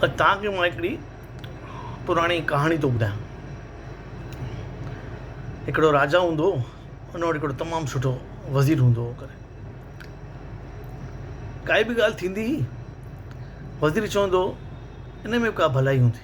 اڄ توهان کي مان هڪڙي پراڻي ڪهاڻي ٿو ٻڌايان هڪڙو راجا هوندو هو ان وٽ هڪڙو تمام سٺو وزير هوندو هو ڪري ڪائي به ڳالهه ٿيندي هئي وزير چوندو هو ان ۾ به ڪا ڀلائي هوندي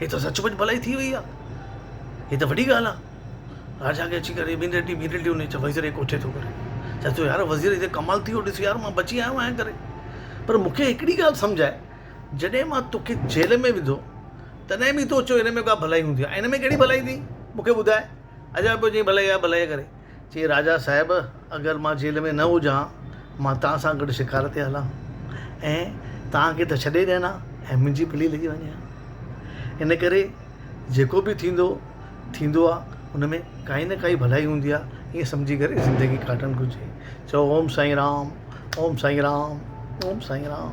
هي ته سچ پچ ڀلائي ٿي وئي آ هي ته وڏي ڳالهه آ راجا کي اچي ڪري ٻين ٽي ڏينهن ٻين ٽي ڏينهن چئي وزير کي ڪوٺي ٿو ڪري چئس ٿو يار وزير هي ته ڪمال ٿي ويو ڏس يار مان بچي آيو آهيان ڪري پر مونکي هڪڙي ڳالهه سمجهه آهي جڏهن مان توکي جيل ۾ وڌو تڏهن به تو چئو هن ۾ ڪا ڀلائي هوندي آ هن ۾ ڪهڙي ڀلائي ٿي مونکي ٻڌاء اڄ آء پيو چئين ڀلائي آ ڀلائي آ ڪري چي راجا صاحب اگر مان جيل ۾ نه هجان مان توهان سان گڏ شڪار تي هلان ۽ توهان کي ته ڇڏي ڏيان ها ۽ منهنجي پلي لڳي وڃي ها ان ڪري جيڪو به ٿيندو ٿيندو آ ان ۾ ڪائي نه ڪائي ڀلائي هوندي آ ائين سمجهي ڪري زندگي ڪاٽڻ گهرجي چئو اوم سائين رام اوم سائين رام اوم سائين رام.